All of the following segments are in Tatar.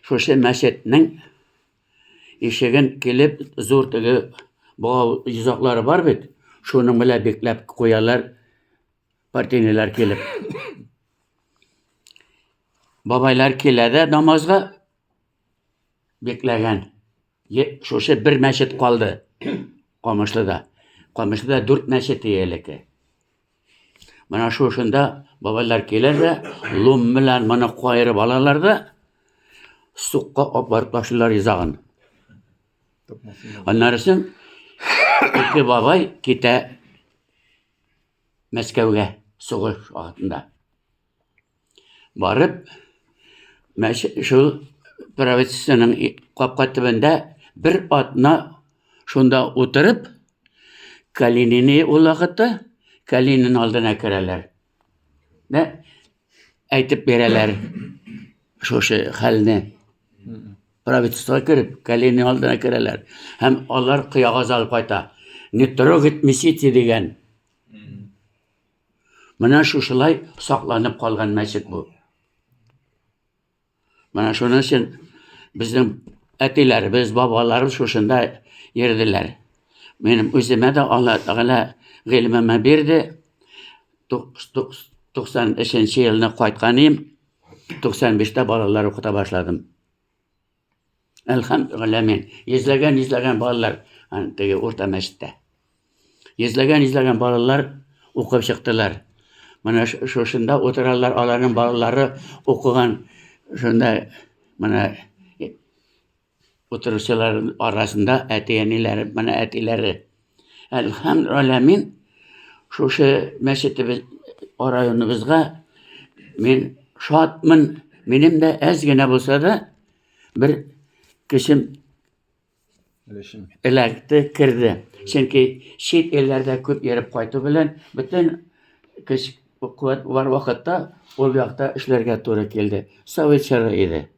Шушы мәчетнең ишеген килеп зур теге бау йозаклары бар бит, шуның белән бикләп куялар партинийлар килеп. Бабайлар килә дә намазга бикләгән. Шушы бер мәчет калды Камышлыда. Камышлыда дүрт мәчет иелеке. Менә шушында бабайлар килер дә, лум белән моны кайырып алалар да, сукка апарып ташлыйлар изагын. Аннары соң ике бабай китә Мәскәүгә сугыш вакытында. Барып, мәче, шул правительственың капка төбендә бер атна шунда утырып, Калинины ул вакытта Калинин алдына керәләр. Дә әйтеп бирәләр шушы хәлне. Правительство кереп, Калинин алдына керәләр. Һәм алар кыягаз алып кайта. Не трогать месите дигән. Менә шушылай сакланып калган мәчет бу. Менә шуның өчен безнең әтиләребез, бабаларыбыз шушында йөрделәр. Минем үземә дә Алла Тәгалә гыйлемемә бирде. 93 елны кайткан идем. 95-тә балалар укыта башладым. Әлхәмдүләмин. Йөзләгән, йөзләгән балалар теге урта мәчеттә. Йөзләгән, йөзләгән балалар укып чыктылар. Менә шушында утыралар, аларның балалары укыган шунда менә утыручылар арасында әти-әниләре, менә әтиләре. Әлхәмд Аләмин шушы мәчетебез районыбызга мин шатмын. Минем дә әз генә булса да бер кешем эләкте, керде. Чөнки чит илләрдә күп йөреп кайту белән бөтен көч куәт бар вакытта ул якта эшләргә туры килде. Совет чоры иде.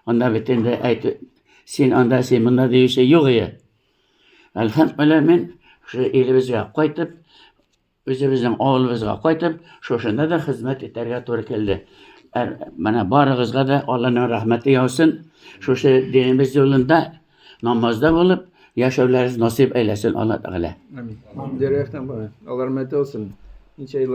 Анда бит инде әйт, син анда, син монда диюче юк ие. Әлхәмдүлилла мин шул илебезгә кайтып, үзебезнең авылыбызга кайтып, шушында да хезмәт итәргә туры килде. Ә, менә барыгызга да Алланың рәхмәте яусын. Шушы динебез юлында намазда булып, яшәүләрегез насыйп әйләсен Алла Тәгалә. Дөрәхтән бара. Алар мәтәсен. Ничә еллар